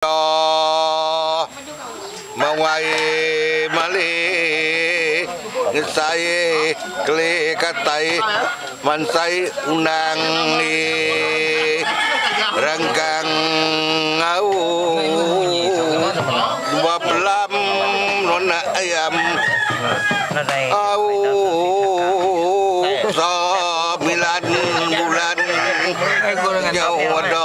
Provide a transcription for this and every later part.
Meda mawai mali ngesai keli katai mansai undang di renggang au dua pelam nona ayam au semilan bulan nyau ada.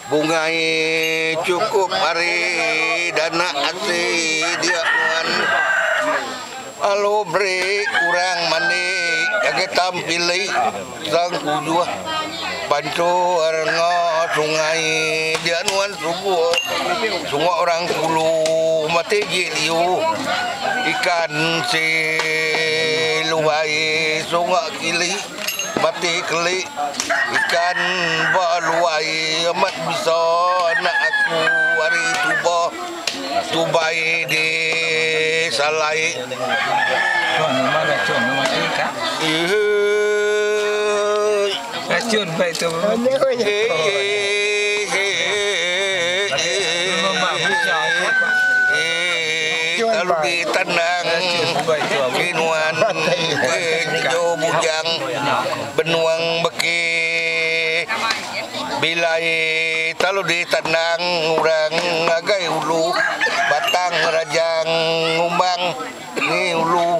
Bungai cukup ari dana asi dia nuan lalu beri orang mandi ngagai tampili tang kujuh panchur enggau sungai dia nuan suguh suguh orang kulu mati ji liu ikan si lubai suguh kili. Mati keli ikan ba luai amat bisa anak aku ari tuba tubai di salai eii. Lalu ditandang di nuan enggau bujang benuang beki bilai lalu ditandang orang ngagai ulu batang rajang ngumbang ni ulu.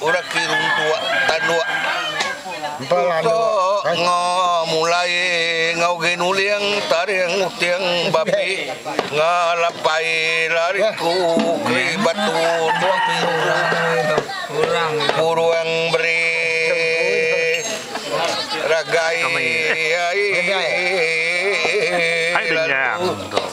Orang ke runtuk tanduk tutuk enga mulai enggau agi nuling taring uting bapi enga lapai lari ku keri batu burung beri ragai ai lalu.